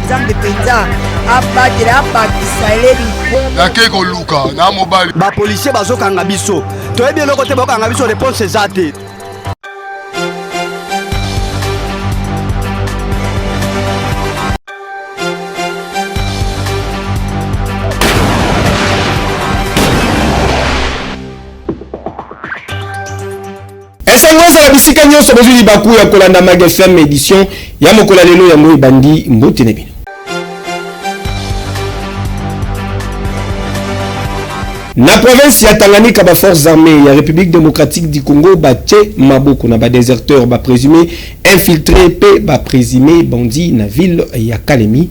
nzambe mpenza abatela abakisa eleli nakei koluka na mobali bapolisier bazokanga biso toyebi eloko te bakokanga biso reponse eza te Esango ezala bisika nyonso bozwi libaku ya kolanda Mag FM edition ya mokolo ya lelo yango ebandi mbote na bino. Na province ya Tanganyika ba forces armées ya République démocratique du Congo batye maboko na ba déserteurs ba présumés infiltrés mpe ba présumés bandits na ville ya Kalemi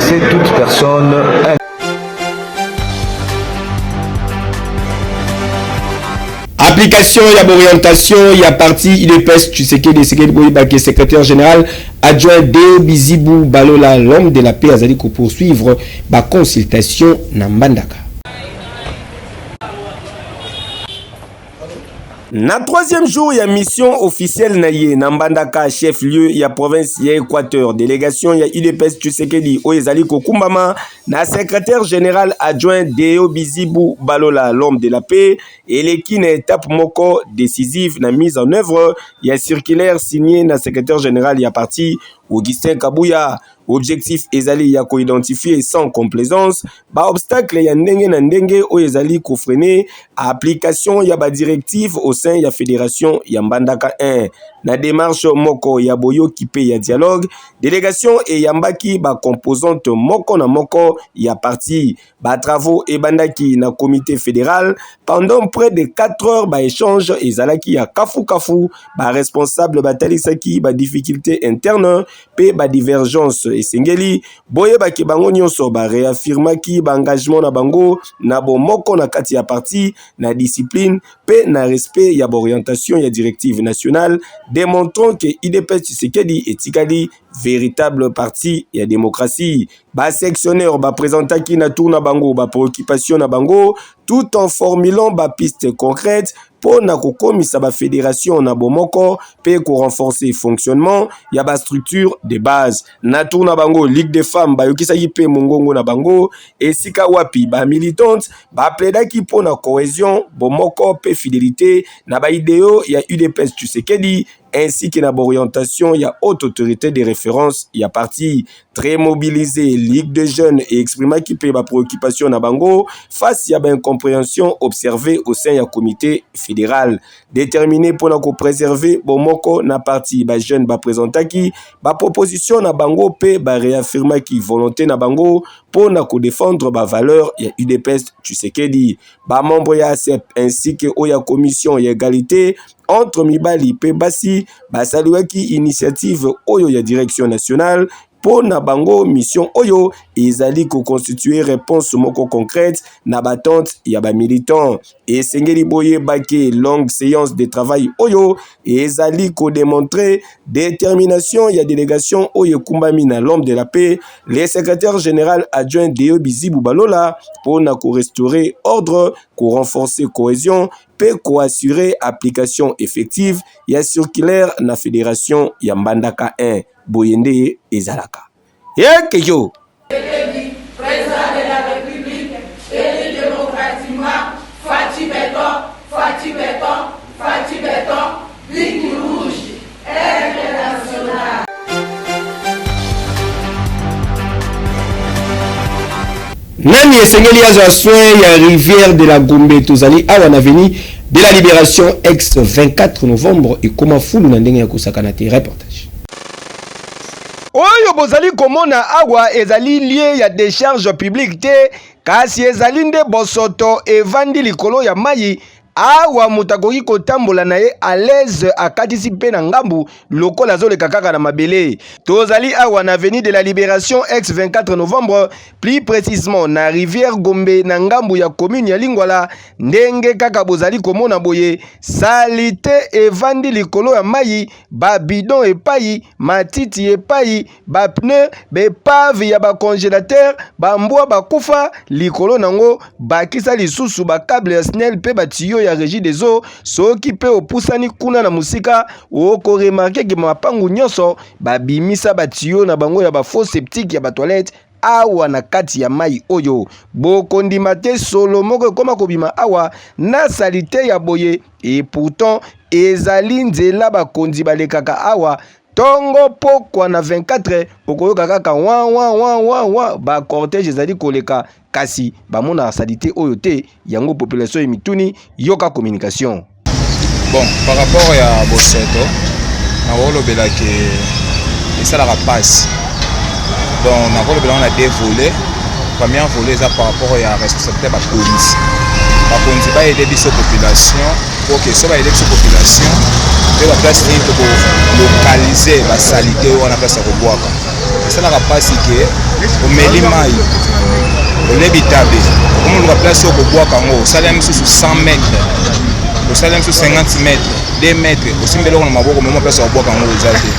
C'est toute personne application ya orientation ya parti udps tshisekedi esekeli boyeba ke secrétaire général adjoint de bizibu balola l'homme de la paix azali kopoursuivre baconsultation na mbandaka Na troisième jour ya mission officielle na ye na Mbandaka chef lieu ya province ya Equateur, délégation ya UDPS Tshisekedi oyo ezali kokumbama na secrétaire général adjoint Deo Bizibu Balola l'homme de la paix eleki na étape moko décisive na mise en œuvre ya circulaire signé na secrétaire général ya parti Augustin Kabuya Objectif ezali ya ko identifier sans complaisance ba obstacles ya ndenge na ndenge oyo ezali ko freiner application ya ba directives au sein ya Federation ya Mbandaka 1. Na demarche moko ya boyoki mpe ya dialogue, delegation eyambaki ba composantes moko na moko ya parti Ba travaux ebandaki na comite federal pendant près de 4 heures ba échange ezalaki ya kafu kafu ba responsable batalisaki ba difficulté interne pe ba divergence esengeli boyebaki bango nyonso ba réaffirmaki ba engagement na bango na bomoko na kati ya parti na discipline pe na respect ya baorientation ya directive nationale démontrant que idps tshisekedi etikali veritable parti ya democratie. Ba sectionneurs ba presentaki na tour na bango ba préoccupations na bango tout en formulant ba pistes concrètes mpo na kokomisa ba fédérations na bomoko mpe ko renforcer fonctionnement ya ba structures de base. Na tour na bango, Ligue des femmes bayokisaki mpe mongongo na bango, esika wapi ba militantes ba plaidaki mpo na cohesion, bomoko mpe fidelite na ba ideaux ya UDPS Tshisekedi ainsi que na b'orientation ya haute autorite de reference ya parti très mobilise ligue de jeunes e exprimaki mpe ba préoccupation na bango face ya ba incomprehension observe au sein ya comité fédéral déterminé mpo na ko préserver bomoko na parti ba jeunes ba présentaki ba proposition na bango mpe ba réaffirmaki volonté na bango mpo na ko défendre ba valeur ya udps tshisekedi ba membre ya asep ainsi que oyo ya commission ya egalite entre mibali mpe basi basaliwaki initiative oyo ya direction nationale mpo na bango mission oyo ezali koconstitue réponse moko concrète na batente ya bamilitant esengeli boyeba ke longue séance de travail oyo ezali kodemontre détermination ya délégation oyo ekumbami na l'homme de la paix le secrétaire général adjoint deo bizibu balola mpo na korestaurer ordre korenforcer cohésion mpe ko assurer application effective ya circulaire na federation ya Mbandaka I. Boye nde ezalaka. Heke yo! Ligne rouge, aigle national. Nani esengeli azwa soin ya rivière de la Gombe? Tozali awa na avenue de la Liberation ex 24 novembre ekoma fulu na ndenge ya kosakana te. Reportage. Oyo bozali komona awa ezali lieu ya decharge publique te kasi ezali nde bosoto evandi likolo ya mayi awa moto akoki kotambola na ye alaise akatisi mpe na ngambu lokola azoleka kaka na mabele tozali awa na avenue de la liberation ex 24 novembre plus précisement na rivière gombe na ngambu ya commune ya lingwala ndenge kaka bozali komona boye salite evandi likolo ya mai babidon epai matiti epai ba pneus, ba epaves ya ba congélateurs, ba mbwa bakufa likolo nango, bakisa lisusu ba cable ya SNEL pe ba tuyaux ya Régie des eaux. Soki pe opusani kuna na musika, oko remarquer que mapangu nyonso babimisa ba tuyaux na bango ya ba faux septiques ya ba toilettes awa na kati ya mai oyo. Bokondima te solo moko ekoma kobima awa na salite ya boye, et pourtant ezali nzela bakonzi balekaka awa Tongo pokwa na 24 okoyoka kaka wa wa wa wa wa ba cortège ezali koleka kasi bamonaka salite oyo te yango population emituni yoka communication bon par rapport ya bosoto nakolobela ke esalaka mpasi donc nakolobela yango na deux volet première volet eza par rapport ya responsabilité ya bakonzi bakonzi bayede biso population Ok, so ba election population mpe ba place nini toko localiser ba salite wana place ya kobwaka esalaka mpasi ke omeli mai olebi tabe omoluka place oyo kobwaka yango osali ya misusu 100 mètre osali ya misusu 50 mètre 2 mètre osimbi eloko na maboko mema place ya kobwaka yango eza te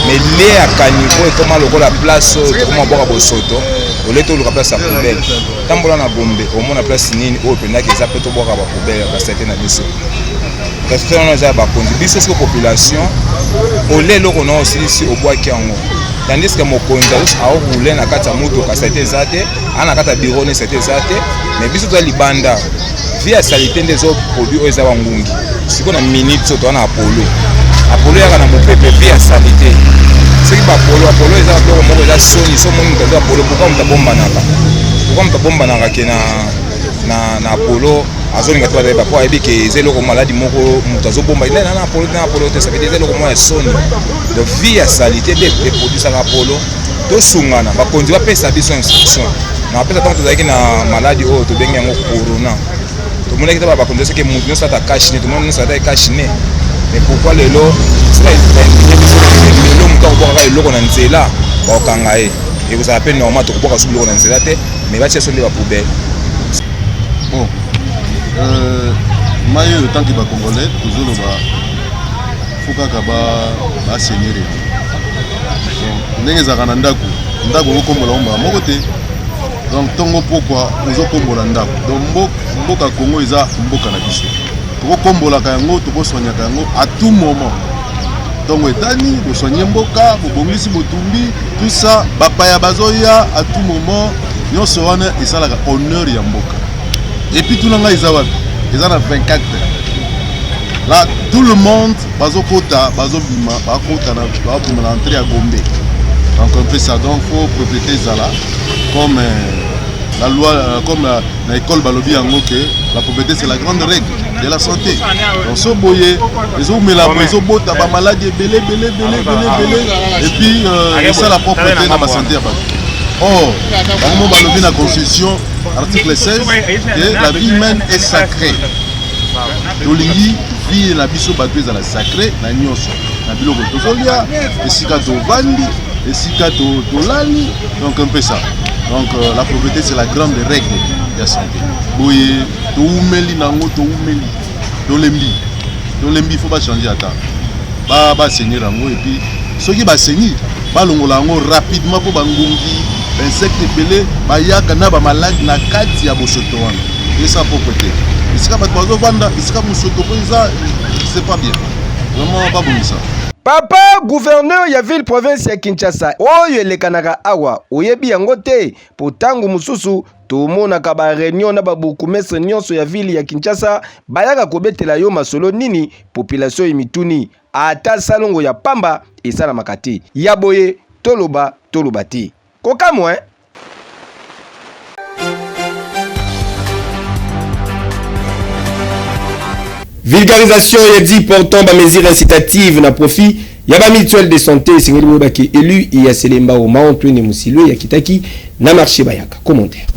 mais lie ya kanivo ekoma lokola place oyo tokoma bwaka bosoto olete oluka place ya poubelle tambola na gombe omona place nini oyo pendaki eza mpe tobwaka bapoubele ya basete na biso refrain wana eza ya bakonzi biso siko population olie eloko na osilisi obwaki yango tandis ke mokonzi aokoule na kati ya motuka sete eza te ana kati ya biro ne sete eza te mais biso toza libanda vie ya salite nde ezo produit oyo eza bangungi siko na minute soki toza na apolo apolo yaka na mopepe vie ya salite soki bapolo apolo eza biloko moko eza soni so moni moto aza apolo pourkua moto abombanaka pourkua moto abombanaka ke na, na, na apolo azolinga te bazali bapo ayebi ke eza eloko maladi moko moto azobomba ina na apolo te na apolo te savete eza eloko moko ya soni donc vie ya salite nde eproduisaka apolo tosungana bakonzi bapesa biso instruction na bapesa ntango tozalaki na maladi oyo tobengi yango corona tomonaki taba bakonzi soki moto nyonso ata cash ne tomoni nyonso ata cash ne mais pourquoi lelo lelo moto akobwakaka eloko na nzela bakokanga ye ekozala mpe normal tokobwaka soki biloko na nzela te mais batia so nde bapoubele bon euh, mai oyo tanke bacongolais tozoloba fo kaka basenere ndenge ezalaka na ndako ndako okokombola yango mbala moko te donc ntongo pokwa ozokombola ndako donc mboka kongo eza mboka na biso tokokombolaka yango tokosoignaka yango à tout moment ntongo etani bosoigne mboka bobongisi botumbi tout ça bapaya bazoya à tout moment nyonso wana esalaka honneur ya mboka epuis tuna ngai eza wapi eza na 24 heures La tout le monde bazo kota bazo bima ba kota na ba bima na entrée ya Gombe. Donc on fait ça donc faut propriété zala comme euh, la loi euh, comme la, na école balobi yango que la propriété c'est la grande règle de la santé. Donc so boye ezo mela bo ezo bota ba maladies belé belé belé belé belé et puis euh, ça la propriété na ba santé ya bato. Or, bango balobi na constitution article 16 que la vie humaine est sacrée. tolingi vie na biso bato ezala sacre na nyonso na biloko tozolia esika tovandi esika tolali donc un peu ça donc euh, la propriété c'est la grande règle ya santé boye toumeli nango toumeli tolembi tolembi fo bachange ata baseigneur yango epuis soki baseigneur Balongola yango rapidement mpo bangungi insecte ebele bayaka na bamaladi na kati ya bosoto wana esa propre te esika bato bazovanda esika mosoto mpo eza c'est pas bien vraiment babongisa papa gouverneur ya ville province ya kinshasa oyo elekanaka awa oyebi yango te mpo ntango mosusu tomonaka bareunion na babourgmestre nyonso ya ville ya kinshasa bayaka kobetela yo masolo nini population emituni Ata salongo ya pamba esalamaka te. Ya boye toloba toloba te. Kokamwa hein? Vulgarisation ya dit portant ba mesures incitatives na profit ya ba mutuelle de santé esengeli boyeba ke élu ya Selembao Mao Twene Musilwe ya kitaki na marché bayaka commentaire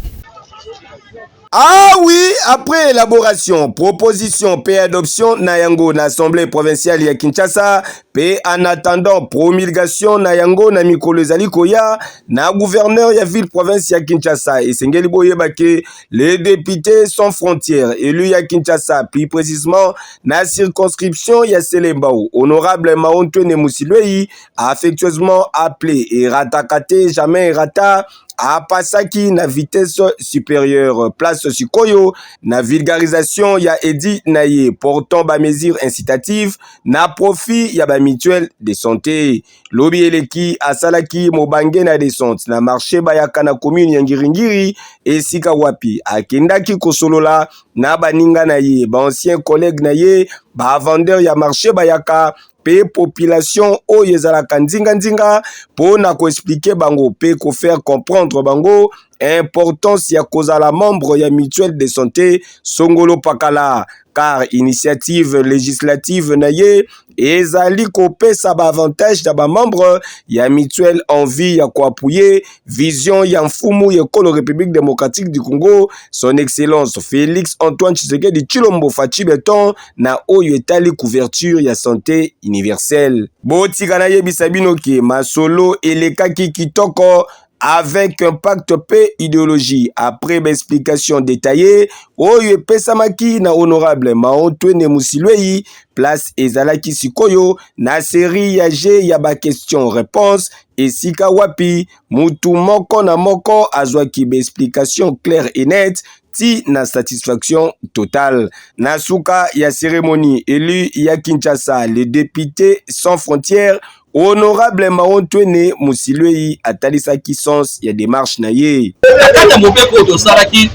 Ah oui, après élaboration, proposition pe adoption na yango na Assemblée provinciale ya Kinshasa pe en attendant promulgation na yango na mikolo ezali koya na gouverneur ya ville province ya Kinshasa esengeli boyeba que les députés sans frontières élus ya Kinshasa plus précisément na circonscription ya Selembao honorable Maontwene Musilwei affectueusement appelé et ratakate jamais rata apasaki na vitesse supérieure place sikoyo na vulgarisation ya edi na ye portant ba mesures incitatives na profit ya ba mutuelle de santé lobi eleki asalaki mobange na descente na marché bayaka na commune ya ngiringiri esika wapi akendaki kosolola na baninga na ye ba ancien collègue na ye ba vendeur ya marché bayaka pe population oyo ezalaka nzinga nzinga pona ko expliquer bango pe ko faire comprendre bango importance ya kozala membre ya mutuelle de santé songolo pakala car initiative législative na ye ezali kopesa ba avantage na ba membre ya mutuelle en vue ya ko appuyer Vision ya mfumu ya ekolo République démocratique du Congo, son excellence Félix Antoine Tshisekedi Tshilombo Fatshi Beton na oyo etali couverture ya santé universelle. Botika nayebisa bino ke masolo elekaki kitoko avec impact pe ideologie après ba explication detaille oyo epesamaki na honorable Maotwene Musilweyi place ezalaki sikoyo na serie ya jeu ya ba question réponse esika wapi mutu moko na moko azwaki ba explications claires et nettes ti na satisfaction totale. Na suka ya ceremonie, elu ya Kinshasa, le depute sans frontières, honorable Maontwene Musilweyi atalisaki sens ya demarche na ye. Na kati ya mobeko oyo tosalaki,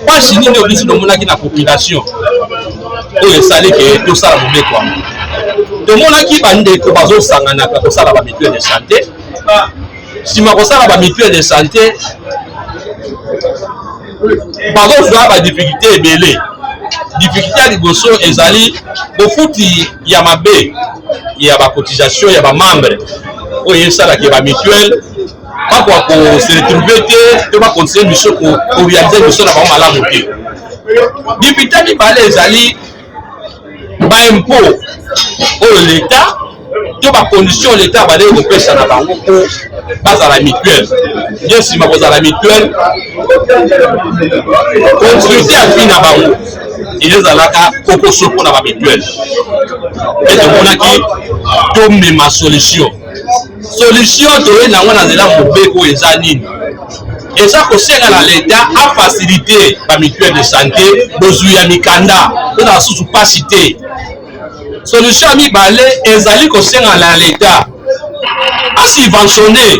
Pasi nini oyo biso tomonaki na population oyo esali ke tosala mobeko yango tomonaki bandeko bazosanganaka kosala ba mutuelle de santé nsima kosala ba mutuelle de santé bazozwa ba difficulté ebele difficulté ya liboso ezali bofuti ya mabe ya bacotisation ya bamembre oyo esalaka ba mutuelle bakoka kose retrouve te to bakontinue biso korealize biso na bango malamu te dipite mibale ezali baimpo oyo leta to bacondition leta abandaki kopesa na bango mpo bazala mutuelle ye nsima kozala mutuelle konsulite ya vi na bango ezalaka kokoso mpo na bamituele mpe tomonaki tomema solution Solution toye nango na nzela mobeko oyo eza nini? eza kosenga na leta afasilite bamituele de sante bozwi ya mikanda mpo na basusu mpasi te solution ya mibale ezali kosenga na leta asubventionne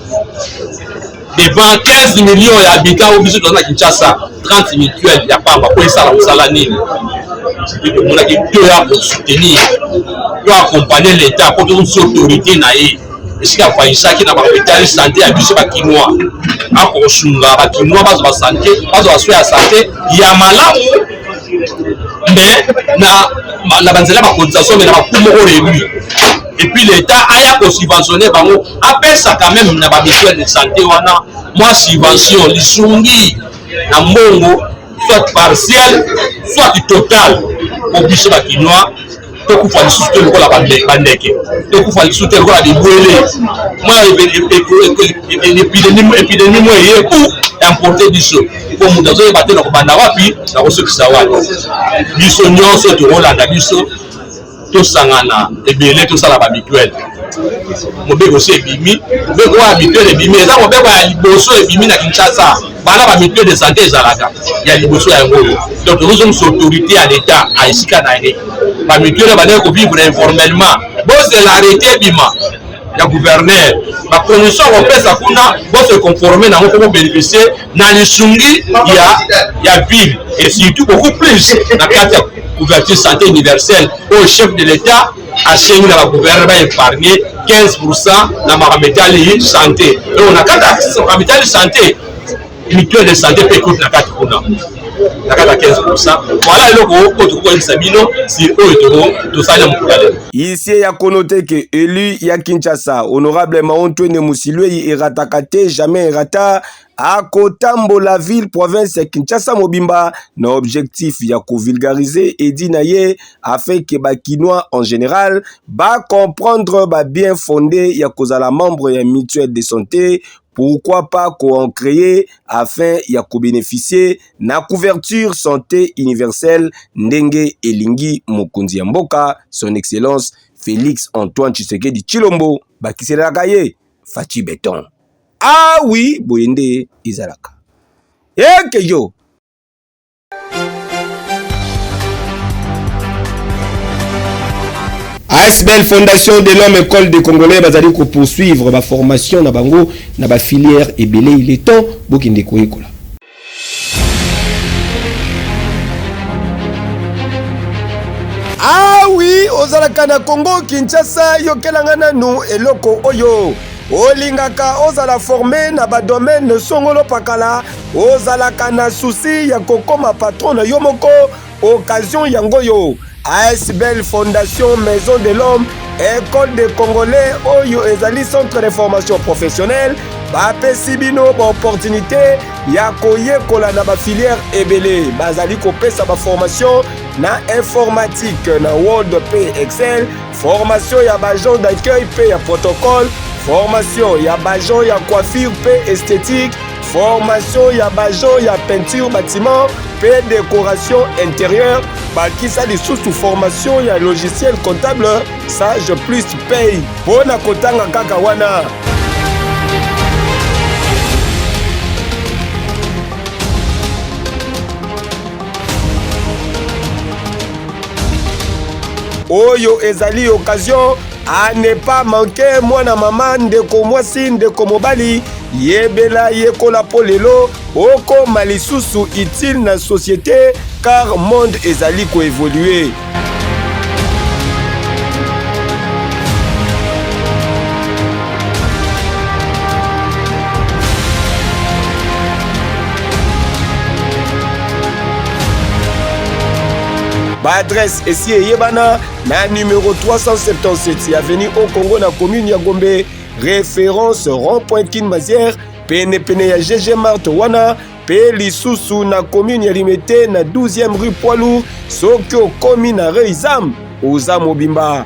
devant 15 millions ya habitant oyo biso toza na kinshasa 30 mutuelle ya pamba po esala mosala nini tomonaki to ya kosoutenir to accompagner l'état po tozosi autorité na ye esika afayisaki na bakomitali sante ya biso bakinois akosunga bakinois bazwa basante bazwa basoi ya sante ya malamu me na banzela bakotisation me na baku moko relu et puis l'etat aya ko subventionner bango apesa quand même na ba mutuelle de santé wana mwa subvention lisungi na mbongo soit partiel soit total po biso bakinois tokufa lisusu te lokola bandeke tokufa lisusu te lokola bibwele mwa epidemi mwa eye ku importe biso po moto azoyeba te na kobanda wapi na kosukisa wapi biso nyonso tokolanda biso tosangana ebele tosala ba mituele mobeko si ebimi mobeko oyo ya mituele ebimi eza mobeko ya liboso ebimi na kinshasa bana ba mituele de sante ezalaka ya liboso ya yango oyo donc tozozongisa autorité ya leta a esika na ye ba mituele bandeki kovivre informellement bozela arrete ebima ya gouverneur ba condition akopesa kuna bose conforme nango mpo bobeneficie na lisungi ya, ya ville et surtout beaucoup plus na kati ya couverture santé universelle oyo chef de l'état asengi na bagouverneur baepargne 15 pourcent na makambo etali santé donc na kati ya makambo etali santé mutuelle de santé mpe ekoki na kati kuna na kaka 15 voilà eloko oyo tokokoyebisa bino si oyo tosali na mokolo ya lelo isie ya kono te ke elu ya kinshasa honorable maontwene mosilwei erataka te jamais erata akotambola ville province ya kinshasa mobimba na objectif ya kovulgarize edi na ye afin ke bakinois en général bacomprendre babien fonde ya kozala membre ya mutuelle de santé Pourquoi pas ko en creer afin ya ko beneficier na couverture sante universelle ndenge elingi mokonzi ya mboka son excellence Felix Antoine Tshisekedi Tshilombo bakiselaka ye Fatshi Beton. Ah oui, boye nde ezalaka. Eke yo! ASBL Fondation de l'Homme École des Congolais bazali ko poursuivre ba formation na bango na ba filière ebele il est temps bokende koyekola. Ah oui, ozalaka na Congo Kinshasa yokelanga nanu eloko oyo olingaka ozala forme na ba domaine songolo pakala Ozalaka na souci ya kokoma patron na yo moko? Occasion yango yo. ASBL Fondation Maison de l'Homme, École des Congolais oyo ezali centre de formation professionnelle bapesi bino baopportunité ya koyekola na bafilière ebele bazali kopesa baformation na informatique na word mpe excel formation ya baagent d'accueil mpe ya protocole formation ya baagent ya coiffure mpe esthétique Formation ya bajo ya peinture bâtiment pe decoration intérieure bakisa lisusu formation ya logiciel comptable sage plus pay mpo na kotanga kaka wana oyo ezali occasion a ne pas manquer mwana mama ndeko mwasi ndeko mobali yebela yekola mpo lelo okoma lisusu utile na société car monde ezali koevolue baadresse esi eyebana Na numero 377 ya avenue au Congo na commune ya Gombe, reference rond-point Kin Mazière, pene pene ya GG Mart wana pe lisusu na commune ya Limete na 12e rue Poids Lourd, soki okomi na Reizam, oza mobimba.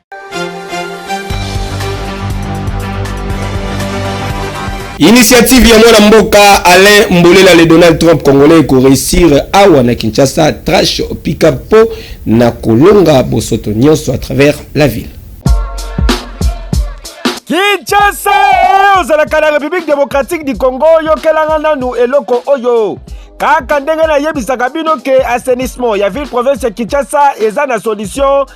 Initiative ya mwana mboka Alain Mbolela le Donald Trump congolais ko réussir awa na Kinshasa trash pika po na kolonga bosoto nyonso à travers la ville. Kinshasa eh, ozalaka na République démocratique du Congo yokelanga nanu eloko oyo kaka ndenge nayebisaka bino ke assainissement ya ville province ya Kinshasa eza na solution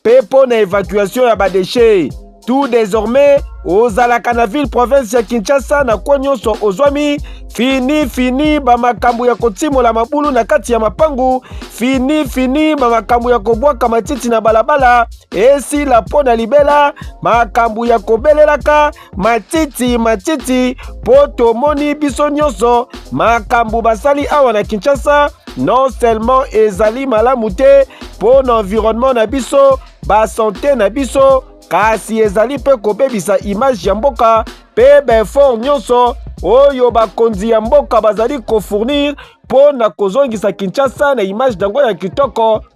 mpe mpo na evacuation ya badeshe tout désormais ozalaka na ville province ya kinshasa na kwo nyonso ozwami fini fini bamakambo ya kotimola mabulu na kati ya mapangu fini fini bamakambo ya kobwaka matiti na balabala esila mpo na libela makambo ya kobelelaka matiti matiti mpo tomoni biso nyonso makambo basali awa na kinshasa non seulement ezali malamu te mpo na environnement na biso basante na biso kasi ezali mpe kobebisa image ya mboka mpe baefort nyonso oyo bakonzi ya mboka bazali kofournir mpo na kozongisa kinshasa na image na yango ya kitoko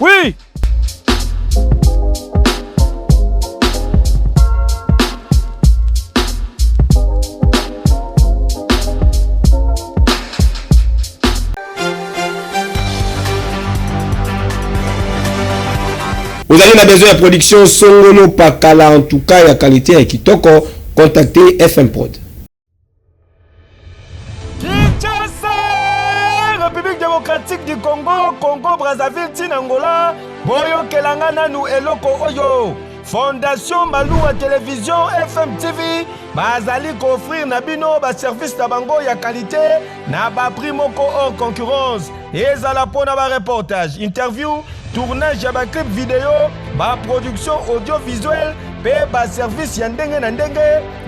Oui ozali na besoin ya production songolo pakala en tout cas ya qualité ya kitoko contacte fm prod République démocratique du Congo, Congo Brazzaville, Tinangola, boyokelanga nanu eloko oyo. Fondation Maluwa Télévision FM TV bazali koffrir na bino ba service na bango ya qualité na ba prix moko hors concurrence ezala mpo na ba reportage interview tournage ya baclip video baproduction audiovisuel mpe baservice ya ndenge na ndenge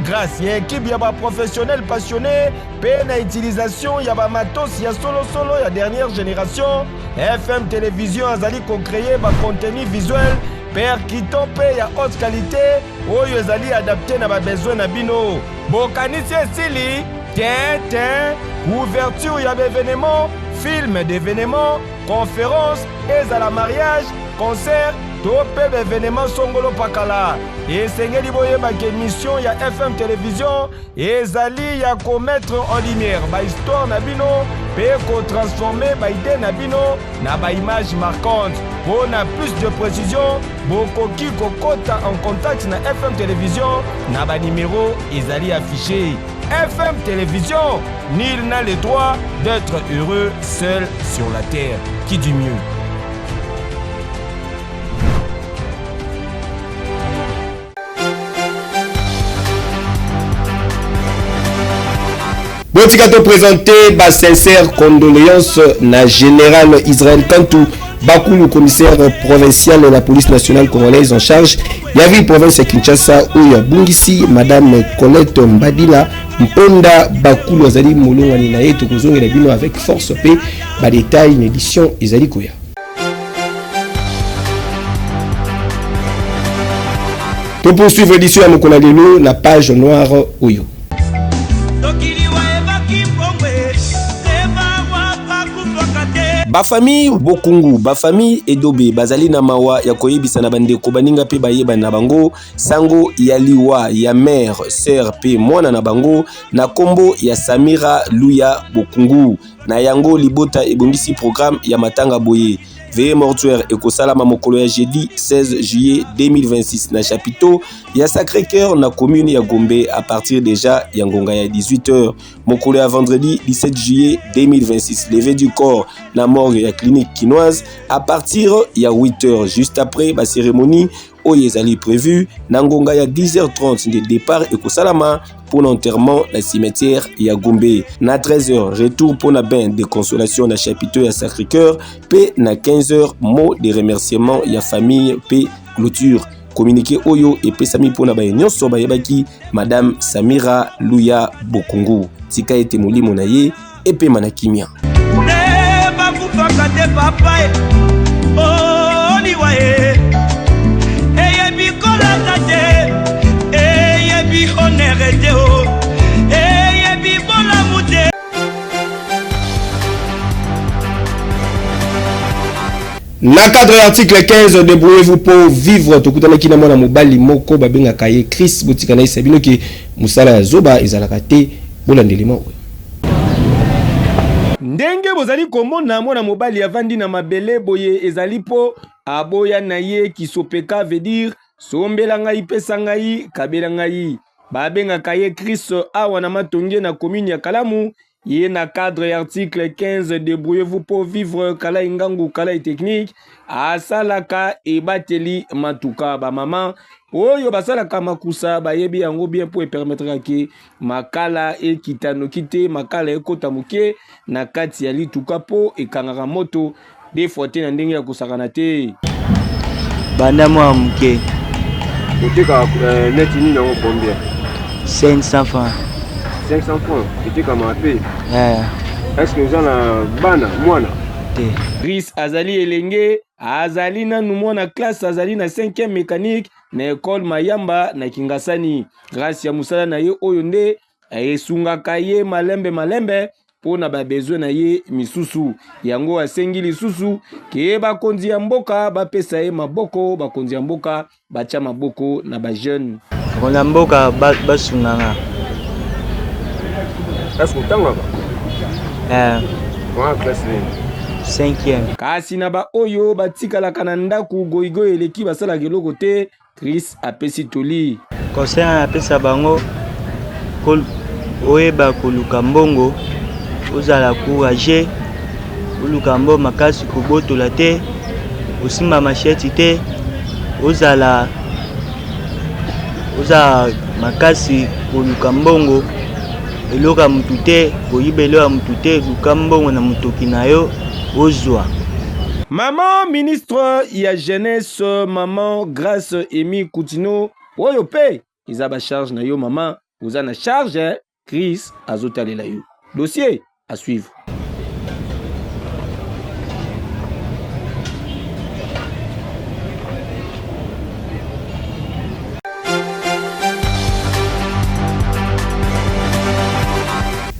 grâce ya ekipe ya baprofessionnel passionné mpe na utilisation ya bamatos ya solosolo ya dernière génération fm télévision azali kocreye bacontenu visuel percutant mpe ya haute qualité oyo ezali adapte na babesoin na bino. Bokanisi esili? Te, te. Ouverture ya baevenement, film d'evenement, conference, ezala mariage, concert to mpe baevenement songolo pakala. Esengeli boyeba ke mission ya FM Television Ezali ya ko mettre en lumière ba histoire na bino pe ko transformer ba idee na bino na ba images marquantes. Pour na plus de précision, bokoki kokota en contact na FM Télévision na ba numéro ezali affiché. FM Télévision, nul n'a le droit d'être heureux seul sur la terre. Qui dit mieux botika to présente ba sincère condoléance na général israël kantu bakulu commissaire provincial ya police nationale congolaise en charge ya ville province ya kinshasa oyo abungisi madame colette mbadila mponda bakulu azali molongani na ye tokozongela bino avec force mpe badetail na édition ezali koya To poursuivre édition ya mokona lelo na page noire oyo. bafamille bokungu bafamille edobe bazali na mawa ya koyebisa na bandeko baninga mpe bayebani na bango sango ya liwa ya mare sœur mpe mwana na bango na nkombo ya samira luya bokungu Na yango, libota ebongisi programme ya matanga boye. Veye mortuaire ekosalama mokolo ya jeudi 16 juillet 2026 na chapiteau ya Sacre Coeur na commune ya Gombe à partir déjà ya ngonga ya 18h mokolo ya vendredi 17 juillet 2026 levée du corps na morgue ya clinique kinoise à partir ya 8h juste après ba cérémonie oyo ezali prevu na ngonga ya 10h30 nde départ ekosalama mpo na enterrement na cimetière ya Gombe na 13h retour mpo na bain de consolation na chapiteau ya Sacré-Cœur mpe na 15h mot de remerciement ya famille mpe clôture communiqué oyo epesami mpo na baye nyonso bayebaki madame Samira Luya Bokungu tika ete molimo na ye epema na kimia nde bakufaka te papa e oliwa oh, e eyebi kolata te eyebi honere te o oh. na cadre ya article 15 debrouillez-vous pour vivre tokutanaki na mwana mobali moko babengaka ye chris botika na yesa bino ke mosala ya zoba ezalaka te bolandelema oyo Ndenge bozali komona mwana mobali avandi na mabele boye ezali po aboya na ye kisopeka veut dire sombela ngai pesa ngai kabela ngai babengaka ye Chris awa na matonge na commune ya Kalamu ye na cadre ya article 15 debrouillez-vous pour vivre kala ingangu kala technique asalaka ebateli matuka bamama oyo basalaka makusa bayebi yango bien mpo epermetraka ke makala ekita noki te makala ekota moke na kati ya lituka mpo ekangaka moto defwa te na ndenge ya kosakana te banda mwa moke oteka eh, neti nini yango combien 500 francs 500 francs etekama pe eh. est ce que oza na bana mwana te ris azali elenge azali nanu mwana classe azali na 5e mécanique na ekole Mayamba na Kingasani. Grâce ya mosala na ye oyo nde esungaka ye malembe malembe mpo na babezwe na ye misusu. Yango asengi lisusu ke bakonzi ya mboka bapesa ye maboko, bakonzi ya mboka batya maboko na bajeune. Bakonzi ya mboka basunganga. Est-ce que otangaka? Eh. Wana classe nini? Cinquième. Kasi na baoyo batikalaka na ndako, goigoi eleki, basalaka eloko te. Chris apesi toli. Conseil na napesa bango ko, oyeba koluka mbongo, ozala courageux, oluka mbongo makasi, kobotola te, osimba machette te, ozala Oza makasi koluka mbongo eloko ya mutu te koyiba eloko ya mutu te luka mbongo na mutoki na yo ozwa. Maman ministre ya jeunesse maman grace emi kutino oyo pe eza ba charge na yo maman oza na charge Chris azotalela yo dossier à suivre.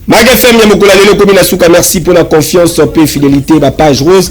Mag FM ya mokolo ya lelo ekomi na suka merci mpo na confiance mpe fidelité ba page rose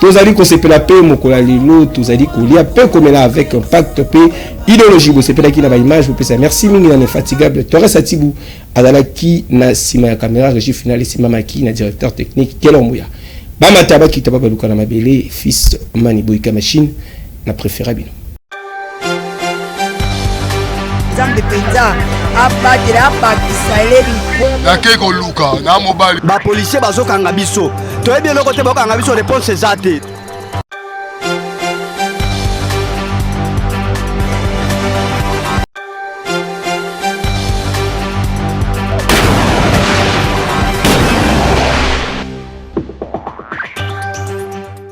tozali kosepela mpe mokolo ya lelo tozali kolia mpe komela avec impact mpe ideologie bosepelaki na baimage bopesa merci mingi na infatigable torres atibu azalaki na nsima ya camera regie final esimamaki na directeur technique kelombuya bamata bakita babaluka na mabele fils mani boyika machine na préféra bino nzambe mpenza abatela abakisa eleli nakei koluka na mobali bapolisie bazokanga biso toyebi eloko te bakokanga biso reponse eza te